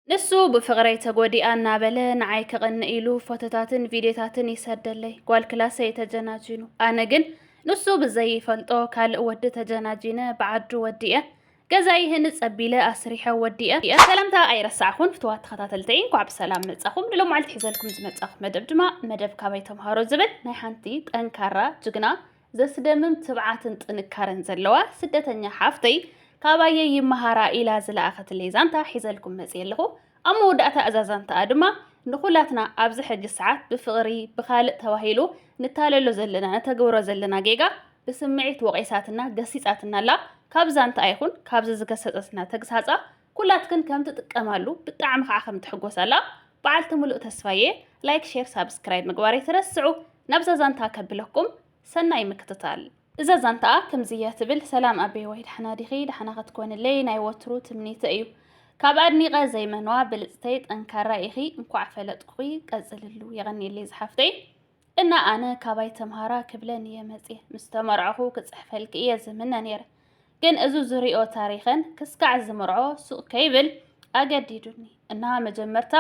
ንሱ ብፍቕረይ ተጎዲኣ እናበለ ንዓይ ከቕንእ ኢሉ ፎቶታትን ቪድዮታትን ይሰደለይ፣ ጓል ክላሰይ ተጀናጂኑ። ኣነ ግን ንሱ ብዘይፈልጦ ካልእ ወዲ ተጀናጂነ ብዓዱ ወዲኤ ገዛይ ይህንፅ ኣቢለ ኣስሪሐ ወዲኤ። ሰላምታ ኣይረሳዕኹን ፍትዋት ተኸታተልተይ እንኳዕ ብሰላም መጻኹም። ንሎማዓልቲ ሒዘልኩም ዝመጻኹ መደብ ድማ መደብ ካባይ ተምሃሮ ዝብል ናይ ሓንቲ ጠንካራ ጅግና ዘስደምም ትብዓትን ጥንካረን ዘለዋ ስደተኛ ሓፍተይ ካባየ ይመሃራ ኢላ ዝለኣኸትለይ ዛንታ ሒዘልኩም መጽ ኣለኹ ኣብ መወዳእታ እዛ ዛንታኣ ድማ ንኹላትና ኣብዚ ሕጂ ሰዓት ብፍቕሪ ብኻልእ ተባሂሉ ንታለሎ ዘለና ንተግብሮ ዘለና ጌጋ ብስምዒት ወቒሳትና ገሲጻትና ኣላ ካብ ዛንታኣ ይኹን ካብዚ ዝገሰጸትና ተግሳጻ ኩላትክን ከም ትጥቀማሉ ብጣዕሚ ከዓ ከም ትሕጎሳላ በዓልቲ ሙሉእ ተስፋ እየ። ላይክ ሼር ሳብስክራይብ ምግባር ኣይትረስዑ። ናብዛ ዛንታ ከብለኩም ሰናይ ምክትታል። እዛ ዛንታኣ ከምዚ እያ ትብል፣ ሰላም ኣቤዋይ ዳሕና ዲኺ ዳሕና ክትኮንለይ ናይ ወትሩ ትምኒተይ እዩ። ካብ ኣድኒቐ ዘይመንዋ ብልጽተይ ጠንካራ ኢኺ እንኳዕ ፈለጥኩኺ ቀጽልሉ የቐንየለይ ዝሓፍተይ። እና ኣነ ካባይ ተምሃራ ክብለ ንየ መጽየ ምስ ተመርዕኹ ክጽሕፈልኪ እየ ዝምነ ነይረ ግን እዚ ዝሪኦ ታሪኸን ክስካዕ ዝምርዖ ሱቕ ከይብል ኣገዲዱኒ እና መጀመርታ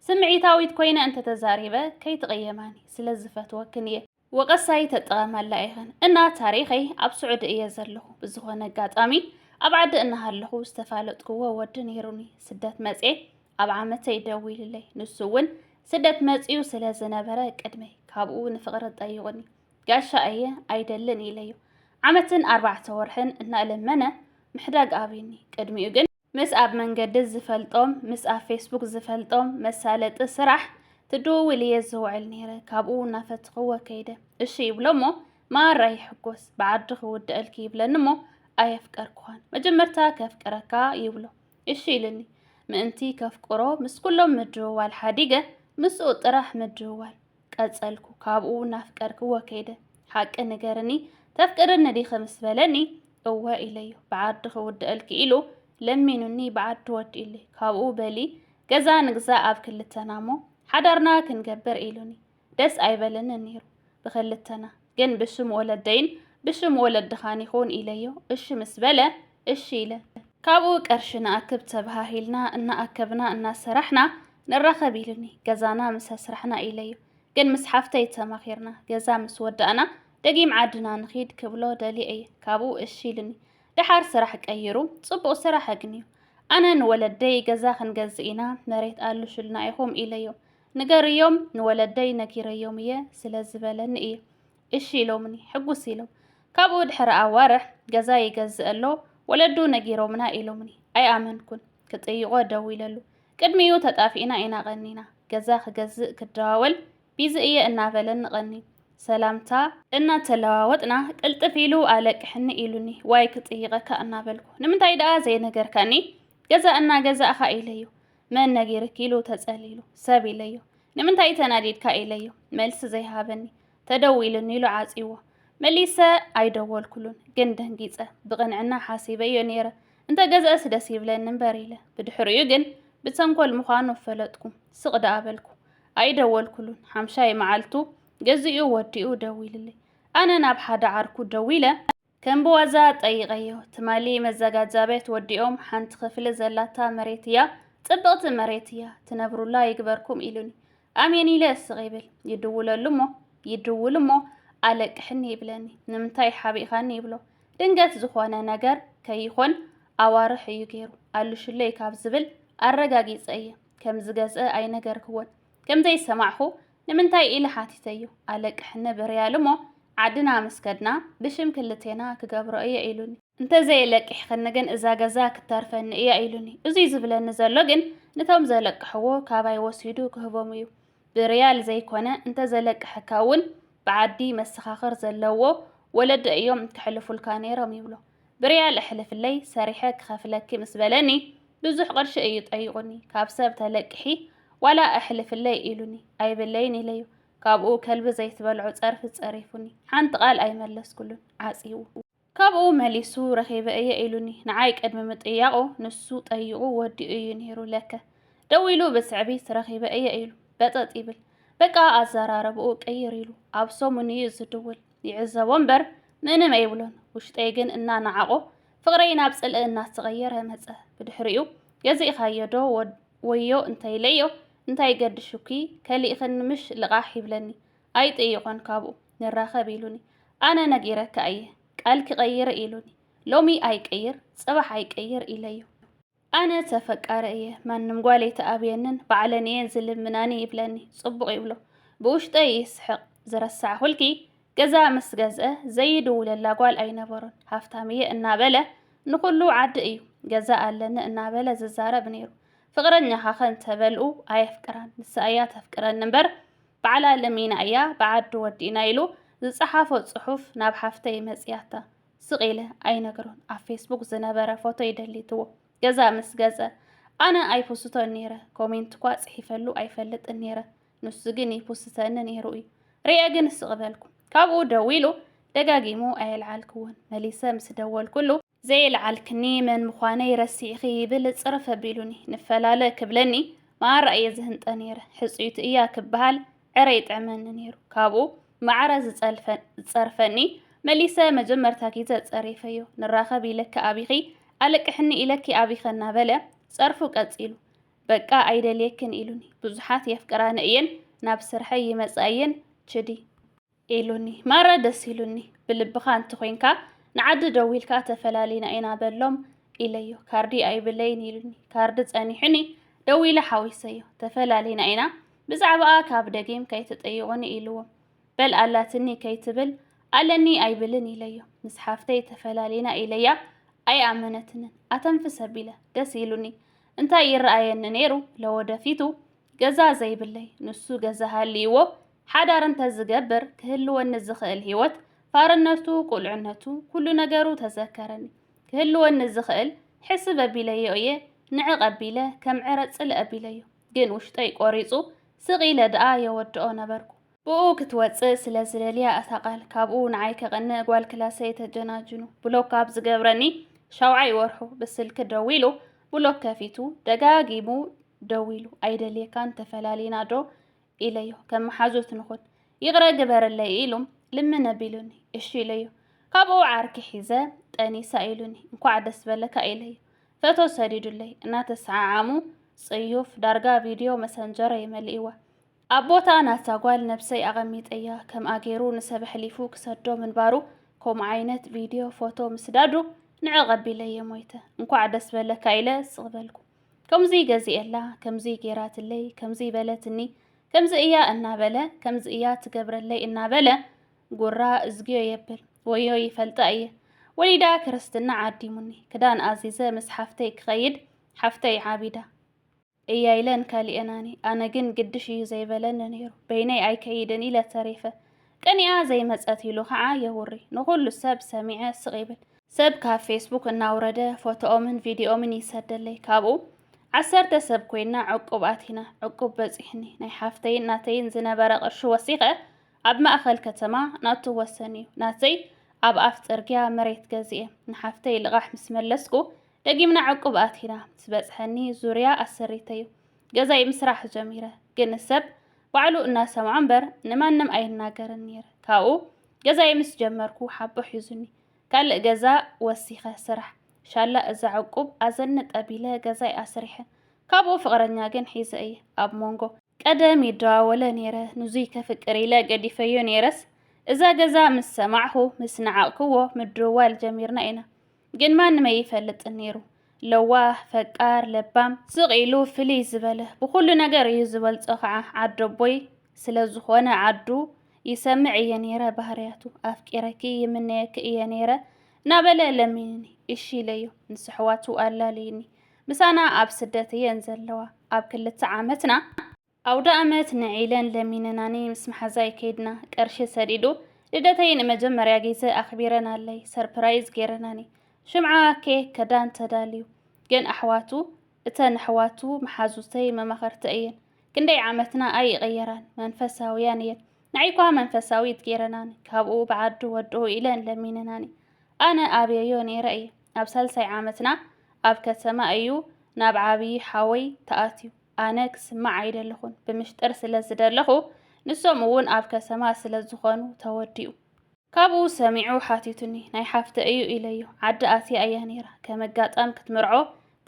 ስምዒታዊት ኮይነ እንተተዛሪበ ከይትቕየማኒ ስለ ዝፈትወክን እየ ወቐሳይ ተጠቐማላ ኢኸን እና ታሪኸይ ኣብ ስዑዲ እየ ዘለኹ ብዝኾነ ኣጋጣሚ ኣብ ዓዲ እናሃለኹ ዝተፋለጥክዎ ወዲ ነይሩኒ ስደት መጽየ ኣብ ዓመተይ ደዊሉለይ ንሱ እውን ስደት መፅኡ ስለ ዝነበረ ቅድመይ ካብኡ ንፍቕሪ ጠይቑኒ ጋሻ እየ ኣይደልን ኢለዩ ዓመትን ኣርባዕተ ወርሕን እናእለመነ ምሕዳግ ኣብዩኒ ቅድሚኡ ግን ምስ ኣብ መንገዲ ዝፈልጦም ምስ ኣብ ፌስቡክ ዝፈልጦም መሳለጢ ስራሕ ትድውውል እየ ዝውዕል ነይረ ካብኡ እናፈትኽዎ ከይደ እሺ ይብሎ እሞ ማራ ይሕጎስ ብዓዲ ክውድአልኪ ይብለኒ እሞ ኣየፍቀርኩኻን መጀመርታ ከፍቅረካ ይብሎ እሺ ኢልኒ ምእንቲ ከፍቅሮ ምስ ኩሎም ምድውዋል ሓዲገ ምስኡ ጥራሕ ምድውዋል ቀጸልኩ ካብኡ ናፍቀርክዎ ከይደ ሓቂ ንገርኒ ተፍቅርኒ ዲኺ ምስ በለኒ እወ ኢለዮ ብዓዲ ክውድአልኪ ኢሉ ለሚኑኒ ብዓዲ ወዲኡሊ ካብኡ በሊ ገዛ ንግዛ ኣብ ክልተና እሞ ሓዳርና ክንገብር ኢሉኒ ደስ ኣይበለንን ነይሩ ብኽልተና፣ ግን ብስም ወለደይን ብስም ወለድኻን ይኹን ኢለዮ እሺ ምስ በለ እሺ ኢለ። ካብኡ ቀርሺ ንኣክብ ተበሃሂልና እናኣከብና እናሰራሕና ንራኸብ ኢሉኒ፣ ገዛና ምስ ኣስራሕና ኢለዮ፣ ግን ምስ ሓፍተይ ተማኺርና ገዛ ምስ ወዳእና ደጊም ዓድና ንኺድ ክብሎ ደልየ እየ፣ ካብኡ እሺ ኢሉኒ፣ ደሓር ስራሕ ቀይሩ ጽቡቕ ስራሕ ኣግንዩ፣ ኣነ ንወለደይ ገዛ ክንገዝእ ኢና መሬት ኣልሹልና ኢኹም ኢለዮ፣ ንገርዮም ንወለደይ ነጊረዮም እየ ስለ ዝበለኒ እየ እሺ ኢሎምኒ ሕጉስ ኢሎም ካብኡ ድሕሪ ኣዋርሕ ገዛ ይገዝእ ኣሎ ወለዱ ነጊሮምና ኢሎምኒ ኣይኣመንኩን ክጥይቖ ደዊለሉ ቅድሚኡ ተጣፊእና ኢና ቐኒና ገዛ ክገዝእ ክደዋወል ቢዚ እየ እናበለኒ ቐንዩ ሰላምታ እናተለዋወጥና ቅልጥፍ ኢሉ ኣለቅሕኒ ኢሉኒ ዋይ ክጥይቐካ እናበልኩ ንምንታይ ደኣ ዘይነገርካኒ ገዛ እናገዛእኻ ኢለዮ መን ነጊርኪ ኢሉ ተጸሊሉ ሰብ ኢለዮ ንምንታይ ተናዲድካ ኢለዮ መልሲ ዘይሃበኒ ተደዊሉኒ ኢሉ ዓጽይዎ መሊሰ ኣይደወልኩሉን ግን ደንጊጸ ብቕንዕና ሓሲበዮ ነይረ እንተ ገዘእስ ደስ ይብለኒ እምበር ኢለ ብድሕሪኡ ግን ብተንኮል ምዃኑ ኣፈለጥኩ ስቕ ደኣ በልኩ ኣይደወልኩሉን ሓምሻይ መዓልቱ ገዚኡ ወዲኡ ደዊልለይ ኣነ ናብ ሓደ ዓርኩ ደዊለ ከም ብዋዛ ጠይቐዮ ትማሊ መዘጋጃ ቤት ወዲኦም ሓንቲ ክፍሊ ዘላታ መሬት እያ ጽብቕቲ መሬት እያ ትነብሩላ ይግበርኩም ኢሉኒ ኣሜን ኢለ እስቕ ይብል ይድውለሉ እሞ ይድውል እሞ ኣለቅሕኒ ይብለኒ ንምንታይ ሓቢእኻኒ ይብሎ ድንገት ዝኾነ ነገር ከይኾን ኣዋርሕ እዩ ገይሩ ኣሉሽለይ ካብ ዝብል ኣረጋጊጸ እየ ከም ዝገዝአ ኣይነገርክዎን ከም ዘይሰማዕኹ ንምንታይ ኢለ ሓቲተዮ። ኣለቅሕ ንብ ርያል እሞ ዓድና ምስ ከድና ብሽም ክልቴና ክገብሮ እየ ኢሉኒ። እንተዘየለቂሕክኒ ግን እዛ ገዛ ክትተርፈኒ እያ ኢሉኒ። እዙይ ዝብለኒ ዘሎ ግን ንቶም ዘለቅሕዎ ካባይ ወሲዱ ክህቦም እዩ። ብርያል ዘይኮነ እንተዘለቅሐካ እውን ብዓዲ መሰኻኽር ዘለዎ ወለዲ እዮም ከሕልፉልካ ነይሮም ይብሎ። ብርያል እሕልፍለይ ሰሪሐ ክኸፍለኪ ምስ በለኒ ብዙሕ ቅርሺ እዩ ጠይቑኒ ካብ ሰብ ተለቅሒ ዋላ እሕልፍለይ ኢሉኒ ኣይብለይን ኢለዮ ካብኡ ከልቢ ዘይትበልዖ ጸርፊ ጸሪፉኒ ሓንቲ ቃል ኣይመለስኩሉን ዓጽይዎ ካብኡ መሊሱ ረኺበ እየ ኢሉኒ ንዓይ ቅድሚ ምጥያቑ ንሱ ጠይቑ ወዲኡ እዩ ነይሩ ለከ ደዊሉ ብትዕቢት ረኺበ እየ ኢሉ በጠጥ ይብል በቃ ኣዘራረብኡ ቅይር ኢሉ ኣብ ሰሙን እዩ ዝድውል ይዕዘቦ እምበር ምንም ኣይብሎን። ውሽጠይ ግን እናነዓቖ ፍቕረይ ናብ ጽልኢ እናተቐየረ መጸ። ብድሕሪኡ ገዚእኻዮ ዶ ወዮ እንተኢለዮ እንታይ ገድሹኪ ከሊእኽኒ ምሽ ልቓሕ ይብለኒ። ኣይጥይቖን ካብኡ ንራኸብ ኢሉኒ። ኣነ ነጊረካ እየ ቃልኪ ቀይሪ ኢሉኒ። ሎሚ ኣይቅይር ጽባሕ ኣይቅይር ኢለዮ። ኣነ ተፈቃረ እየ ማንም ጓል ኣይትኣብየንን ባዕለን እየን ዝልምናኒ ይብለኒ ጽቡቕ ይብሎ ብውሽጠይ ይስሕቕ ዝረሳዕኹልኪ ገዛ ምስ ገዝአ ዘይድውለላ ጓል ኣይነበሮን ሃፍታም እየ እናበለ ንኹሉ ዓዲ እዩ ገዛ ኣለኒ እናበለ ዝዛረብ ነይሩ ፍቕረኛኻ ከ እንተበልኡ ኣየፍቅራን ንሳ እያ ተፍቅረኒ እምበር ባዕላ ለሚና እያ ብዓዱ ወዲእና ኢሉ ዝጸሓፎ ጽሑፍ ናብ ሓፍተይ መጽያታ ስቕ ኢለ ኣይነግሮን ኣብ ፌስቡክ ዝነበረ ፎቶይ ደሊትዎ ገዛ ምስ ገጸ ኣነ ኣይፖስቶን ነይረ ኮሜንት እኳ ጽሒፈሉ ኣይፈልጥን ነይረ ንሱ ግን ይፑስተኒ ነይሩ እዩ ርየ ግን ስቕ በልኩ ካብኡ ደዊሉ ደጋጊሙ ኣየልዓልክዎን መሊሰ ምስ ደወልኩሉ ዘይልዓልክኒ መን ምዃነይ ረሲዕኺ ይብል ጽርፍ ኣቢሉኒ ንፈላለ ክብለኒ መኣራ እየ ዝህንጠ ነይረ ሕጽዩት እያ ክበሃል ዕረ ይጥዕመኒ ነይሩ። ካብኡ ማዕረ ዝጸርፈኒ መሊሰ መጀመርታ ጊዘ ጸሪፈዮ። ንራኸብ ኢለኪ ኣቢኺ ኣለቅሕኒ ኢለኪ ኣቢኸ እናበለ ጸርፉ ቀጺሉ። በቃ ኣይደልየክን ኢሉኒ። ብዙሓት የፍቅራኒ እየን ናብ ስርሐይ ይመጻ እየን ችዲ። ኢሉኒ ማራ ደስ ኢሉኒ ብልብኻ እንተኾይንካ ንዓዲ ደዊልካ ተፈላሊና ኢና በሎም ኢለዮ ካርዲ ኣይብለይን ኢሉኒ ካርዲ ጸኒሑኒ ደዊለ ሓዊሰዮ ተፈላሊና ኢና ብዛዕባኣ ካብ ደጊም ከይትጠይቑኒ ኢልዎ በል ኣላትኒ ከይትብል ኣለኒ ኣይብልን ኢለዮ ምስ ሓፍተይ ተፈላሊና ኢለያ ኣይኣመነትንን ኣተንፍሰ ቢለ ደስ ኢሉኒ እንታይ ይረኣየኒ ነይሩ ለወደፊቱ ገዛ ዘይብለይ ንሱ ገዛ ሃልይዎ ሓዳር እንተዝገብር ክህልወኒ ዝኽእል ህይወት ፋርነቱ፣ ቁልዕነቱ፣ ኩሉ ነገሩ ተዘከረኒ። ክህልወኒ ዝኽእል ሕስብ ኣቢለዮ እየ ንዕቕ ኣቢለ ከም ዕረ ጽልእ ኣቢለዮ። ግን ውሽጠይ ቆሪጹ ስቕ ኢለ ደኣ የወድኦ ነበርኩ። ብእኡ ክትወጽእ ስለ ዝደልያ እታ ቃል ካብኡ ንዓይ ከቐንእ ጓል ክላሰይ ተጀናጅኑ ብሎክ ካብ ዝገብረኒ ሻውዓይ ወርሑ ብስልኪ ደዊሉ ብሎክ ከፊቱ ደጋጊሙ ደዊሉ ኣይደልየካን ተፈላሊና ዶ ኢለዮ ከም መሓዙት ንኹን ይቕረ ግበረለይ ኢሉ ልምነ ቢሉኒ እሺ ኢለዮ ካብኡ ዓርኪ ሒዘ ጠኒሳ ኢሉኒ እንኳዕ ደስ በለካ ኢለዮ ፈቶ ሰዲዱለይ እናተሰዓዓሙ ጽዩፍ ዳርጋ ቪድዮ መሰንጀረይ መሊእዋ ኣብ ቦታ ናታ ጓል ነብሰይ ኣቐሚጠያ ከምኣ ገይሩ ንሰብ ኣሕሊፉ ክሰዶ ምንባሩ ከምኡ ዓይነት ቪድዮ ፎቶ ምስዳዱ ንዕ ቐቢለየ ሞይተ እንኳዕ ደስ በለካ ኢለ ስቕ በልኩ ከምዙይ ገዚኤላ ከምዙይ ገይራትለይ ከምዙይ በለትኒ ከምዚ እያ እናበለ ከምዚ እያ ትገብረለይ እናበለ ጉራ እዝግዮ የብል ወዮ ይፈልጣ እየ ወሊዳ ክርስትና ዓዲሙኒ ክዳን ኣዚዘ ምስ ሓፍተይ ክኸይድ ሓፍተይ ዓቢዳ እያ ኢለን ካሊኤናኒ ኣነ ግን ግድሽ እዩ ዘይበለኒ ነይሩ በይነይ ኣይከይድን ኢለ ተሪፈ ቀኒኣ ዘይመፀት ኢሉ ከዓ የውሪ ንኩሉ ሰብ ሰሚዐ ስቅ ይብል ሰብ ካብ ፌስቡክ እናውረደ ፎቶኦምን ቪድዮኦምን ይሰደለይ ካብኡ ዓሰርተ ሰብ ኮይና ዕቁብ ኣቲና ዕቁብ በፂሕኒ ናይ ሓፍተይን ናተይን ዝነበረ ቅርሺ ወሲኸ ኣብ ማእኸል ከተማ ናቱ ወሰን እዩ ናተይ ኣብ ኣፍ ፅርግያ መሬት ገዚኤ ንሓፍተይ ልቓሕ ምስ መለስኩ ደጊምና ዕቁብ ኣቲና ምስ በጽሐኒ ዙርያ ኣሰሪተዩ ገዛይ ምስራሕ ጀሚረ ግን ሰብ ባዕሉ እናሰምዖ እምበር ንማንም ኣይናገርን ነይረ ካብኡ ገዛይ ምስ ጀመርኩ ሓቦ ሒዙኒ ካልእ ገዛ ወሲኸ ስራሕ ሻላ እዛ ዕቁብ ኣዘኒ ጠቢለ ገዛይ ኣስሪሐ ካብኡ ፍቕረኛ ግን ሒዘ እየ ኣብ ሞንጎ ቀደም ይደዋወለ ነይረ ንዙይ ከፍቅር ኢለ ገዲፈዮ ነይረስ እዛ ገዛ ምስ ሰማዕኹ ምስ ነዓቕክዎ ምድውዋል ጀሚርና ኢና ግን ማንም ኣይፈልጥን ነይሩ። ለዋህ፣ ፈቃር፣ ለባም፣ ስቕ ኢሉ ፍልይ ዝበለ ብኹሉ ነገር እዩ ዝበልጾ ከዓ ዓደቦይ ስለ ዝኾነ ዓዱ ይሰምዕ እየ ነይረ ባህርያቱ። ኣፍቂረኪ ይምነየኪ እየ ነይረ እናበለ ለሚኑኒ እሺ ኢለዮ ምስ ኣሕዋቱ ኣላልዩኒ። ምሳና ኣብ ስደት እየን ዘለዋ ኣብ ክልተ ዓመትና። ኣውደኣመት ንዒለን ለሚነናኒ ምስ መሓዛይ ከይድና ቀርሺ ሰዲዱ ልደተይ ንመጀመርያ ግዜ ኣኽቢረናለይ ሰርፕራይዝ ገይረናኒ ሽምዓ ኬክ ከዳን ተዳልዩ ግን ኣሕዋቱ እተን ኣሕዋቱ መሓዙተይ መማኸርቲ እየን ክንደይ ዓመትና ኣይቕየራን መንፈሳውያን እየን ንዓይኳ መንፈሳዊት ገይረናኒ ካብኡ ብዓዱ ወድኡ ኢለን ለሚነናኒ ኣነ ኣብየዮ ነይረ እየ ኣብ ሳልሳይ ዓመትና ኣብ ከተማ እዩ ናብ ዓብዪ ሓወይ ተኣትዩ ኣነ ክስማዕ ኣይደለኹን ብምሽጥር ስለ ዝደለኹ ንሶም እውን ኣብ ከሰማ ስለ ዝኾኑ ተወዲኡ። ካብኡ ሰሚዑ ሓቲቱኒ ናይ ሓፍተ እዩ ኢለዮ ዓዲ ኣትያ እያ ነይራ ከም ኣጋጣም ክትምርዖ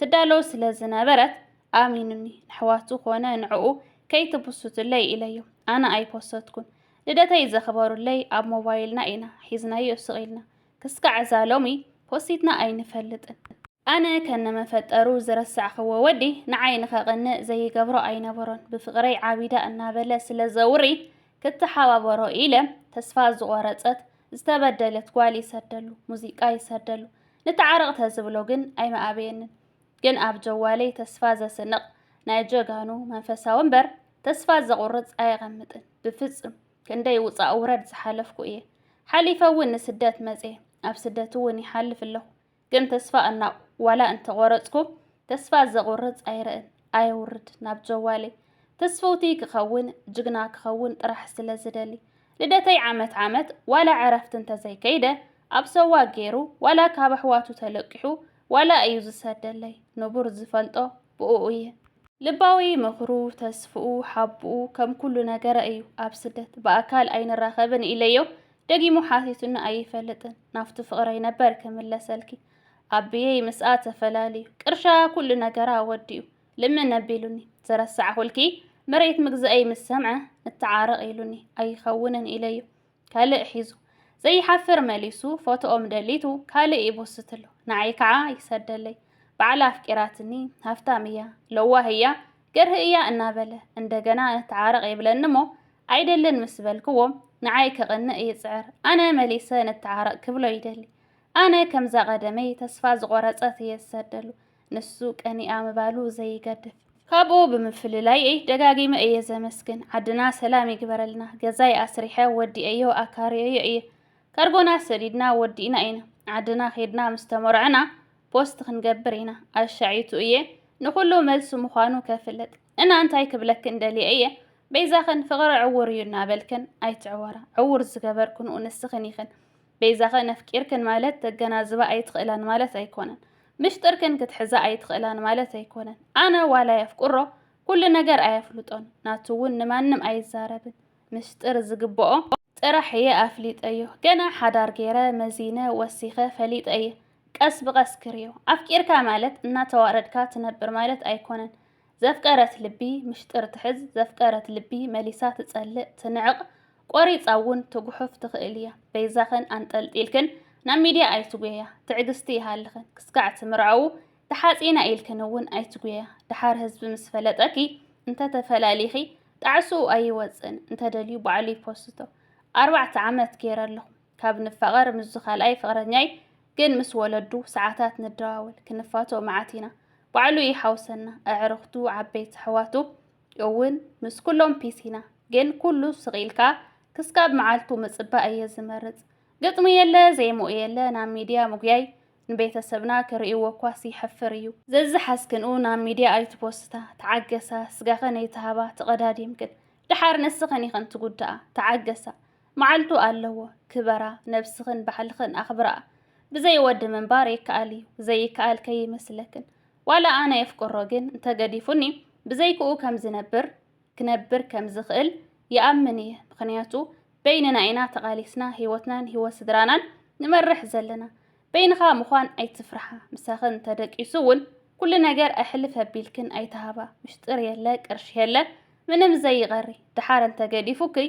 ትዳሎ ስለ ዝነበረት ኣሚኑኒ ነሕዋቱ ኮነ ንዕኡ ከይትፕሱትለይ ኢለዮ ኣነ ኣይፖሰትኩን ልደተይ ዘኽበሩለይ ኣብ ሞባይልና ኢና ሒዝናዮ ስቅ ኢልና ክስካዕ እዛ ሎሚ ፖሲትና ኣይንፈልጥን። ኣነ ከነ መፈጠሩ ዝረሳዕክዎ ወዲ ንዓይ ንኸቅንእ ዘይገብሮ ኣይነበሮን ብፍቅረይ ዓቢዳ እናበለ ስለ ዘውሪ ክተሓባበሮ ኢለ ተስፋ ዝቆረጸት ዝተበደለት ጓል ይሰደሉ ሙዚቃ ይሰደሉ ንተዓረቅ ተዝብሎ ግን ኣይምኣበየንን ግን ኣብ ጀዋለይ ተስፋ ዘስንቅ ናይ ጀጋኑ መንፈሳዊ እምበር ተስፋ ዘቁርጽ ኣየቀምጥን ብፍጹም ክንደይ ውፃእ ውረድ ዝሓለፍኩ እየ ሓሊፈ እውን ንስደት መፅየ ኣብ ስደት እውን ይሓልፍ ኣለኹ ግን ተስፋ እና ዋላ እንተቆረፅኩ ተስፋ ዘቁርፅ ኣይርእን ኣየውርድ ናብ ጀዋለይ ተስፈውቲ ክኸውን ጅግና ክኸውን ጥራሕ ስለ ዝደሊ ልደተይ ዓመት ዓመት ዋላ ዕረፍቲ እንተዘይከይደ ኣብ ሰዋ ገይሩ ዋላ ካብ ኣሕዋቱ ተለቂሑ ዋላ እዩ ዝሰደለይ ንቡር ዝፈልጦ ብኡኡ እየ። ልባዊ ምኽሩ ተስፍኡ ሓብኡ ከም ኩሉ ነገረ እዩ ኣብ ስደት ብኣካል ኣይንራኸብን ኢለዮ ደጊሙ ሓቲቱኒ ኣይፈልጥን ናፍቱ ፍቕረይ ነበር ክምለሰልኪ ኣቢየይ ምስኣ ተፈላልዩ ቅርሻ ኩሉ ነገራ ወዲኡ ልምን ኣቢሉኒ ዘረሳዕኹልኪ መሬት ምግዝኣይ ምስ ሰምዐ ንተዓረቕ ኢሉኒ ኣይኸውንን ኢለዮ ካልእ ሒዙ ዘይሓፍር መሊሱ ፎቶኦም ደሊቱ ካልእ ይቦስትሉ ንዓይ ከዓ ይሰደለይ ባዕላ ኣፍቂራትኒ ሃፍታም እያ ለዋህ እያ ገርህ እያ እናበለ እንደገና ንተዓረቕ ይብለኒ እሞ ኣይደልን ምስ በልክዎ ንዓይ ከቕንእ ይፅዕር ኣነ መሊሰ ንተዓረቕ ክብሎ ይደሊ ኣነ ከምዛ ቀደመይ ተስፋ ዝቆረፀት እየ ዝሰደሉ ንሱ ቀኒኣ ምባሉ ዘይገድፍ ካብኡ ብምፍልላይ እይ ደጋጊመ እየ ዘመስግን ዓድና ሰላም ይግበረልና ገዛይ ኣስሪሐ ወዲኤዮ ኣካርየዮ እየ ካርጎና ሰዲድና ወዲእና ኢና ዓድና ኼድና ምስ ተመርዕና ፖስት ክንገብር ኢና ኣሻዒቱ እየ ንኹሉ መልሲ ምዃኑ ከፍልጥ እና እንታይ ክብለክን ደልየ እየ በይዛኽን ፍቕሪ ዕውር እዩ እናበልክን ኣይትዕወራ ዕውር ዝገበርክንኡ ንስኽን ኢኽን በይዛኺ ነፍቂርክን ማለት ተገናዝባ ኣይትኽእላን ማለት ኣይኮነን ምሽጥርክን ክትሕዛ ኣይትኽእላን ማለት ኣይኮነን ኣነ ዋላ የፍቅሮ ኩሉ ነገር ኣየፍልጦን ናቱ እውን ንማንም ኣይዛረብን ምስጢር ዝግብኦ ጥራሕ እየ ኣፍሊጠዮ ገና ሓዳር ገይረ መዚነ ወሲኸ ፈሊጠ እየ ቀስ ብቀስ ክርዮ ኣፍቂርካ ማለት እናተዋረድካ ትነብር ማለት ኣይኮነን ዘፍቀረት ልቢ ምሽጥር ትሕዝ፣ ዘፍቀረት ልቢ መሊሳ ትጸልእ፣ ትንዕቕ፣ ቆሪጻ እውን ትጉሑፍ ትኽእል እያ። በይዛኽን ኣንጠልጢልክን ናብ ሚድያ ኣይትጉየያ፣ ትዕግስቲ ይሃልኽን፣ ክስካዕ እቲ ምርዓዉ ተሓጺና ኢልክን እውን ኣይትጉየያ፣ ደሓር ህዝቢ ምስ ፈለጠኪ እንተተፈላሊኺ ጣዕስኡ ኣይወጽእን፣ እንተደልዩ ባዕሉ ይፖስቶ። ኣርባዕተ ዓመት ገይረ ኣለኹ ካብ ንፋቐር ምስዚ ካልኣይ ፍቕረኛይ ግን ምስ ወለዱ ሰዓታት ንደዋወል ክንፋቶ መዓት ኢና ባዕሉ ይሓውሰና ኣዕርኽቱ ዓበይቲ ኣሕዋቱ እውን ምስ ኩሎም ፒስ ኢና ግን ኩሉ ስቂልካ ክስካብ መዓልቱ ምጽባእ እየ ዝመርጽ ግጥሚ የለ ዜምኡ የለ ናብ ሚድያ ምጉያይ ንቤተሰብና ክርእይዎ እኳስ ይሕፍር እዩ ዘዝሓዝክንኡ ናብ ሚድያ ኣይትፖስታ ተዓገሳ ስጋኸን ኣይትሃባ ተቐዳዲምክን ደሓር ንስኸን ኢኸን ትጉዳኣ ተዓገሳ መዓልቱ ኣለዎ ክበራ ነብስኽን ባሕልኽን ኣኽብርኣ ብዘይ ወዲ ምንባር ይከኣል እዩ ዘይከኣል ከይመስለክን ዋላ ኣነ የፍቅሮ ግን እንተገዲፉኒ ብዘይክኡ ከም ዝነብር ክነብር ከም ዝኽእል ይኣምን እየ ምኽንያቱ በይንና ኢና ተቓሊስና ህይወትናን ህይወት ስድራናን ንመርሕ ዘለና በይንኻ ምዃን ኣይትፍርሓ ምሳኽን ተደቂሱ እውን ኩሉ ነገር ኣሕልፍ ኣቢልክን ኣይተሃባ ምሽጥር የለ ቅርሺ የለ ምንም ዘይቐሪ ደሓር እንተገዲፉክይ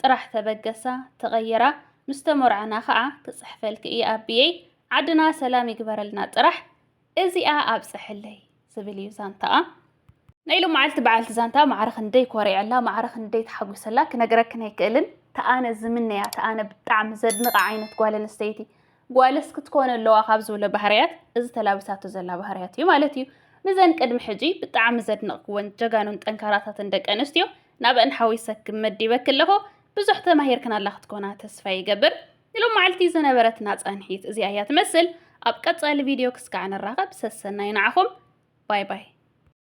ጥራሕ ተበገሳ ተቀይራ ምስ ተሞርዐና ከኣ ክጽሕፈልኪ እየ ኣቢየይ ዓድና ሰላም ይግበረልና ጥራሕ እዚኣ ኣብጽሕለይ ዝብል እዩ ዛንታኣ። ናይ ሎማዓልቲ በዓልቲ ዛንታ ማዕረ ክንደይ ኮሪዐላ ማዕረ ክንደይ ተሓጒሰላ ክነግረክን ኣይክእልን ተኣነ ዝምነያ ተኣነ ብጣዕሚ ዘድንቓ ዓይነት ጓል ኣንስተይቲ ጓልስ ክትኮን ኣለዋ ካብ ዝብሎ ባህርያት እዚ ተላብሳቶ ዘላ ባህርያት እዩ ማለት እዩ። ንዘን ቅድሚ ሕጂ ብጣዕሚ ዘድነቕክወን ጀጋኑን ጠንካራታትን ደቂ ኣንስትዮ ናብኣን ሓዊሰ ክመዲበኪ ኣለኹ። ብዙሕ ተማሂርክናላ ክትኮና ተስፋ ይገብር። ንሎማዕልቲ ዝነበረትና ጻንሒት እዚኣ እያ ትመስል። ኣብ ቀጻሊ ቪድዮ ክስካዕ ንራኸብ። ሰሰናዩ ንዓኹም። ባይ ባይ።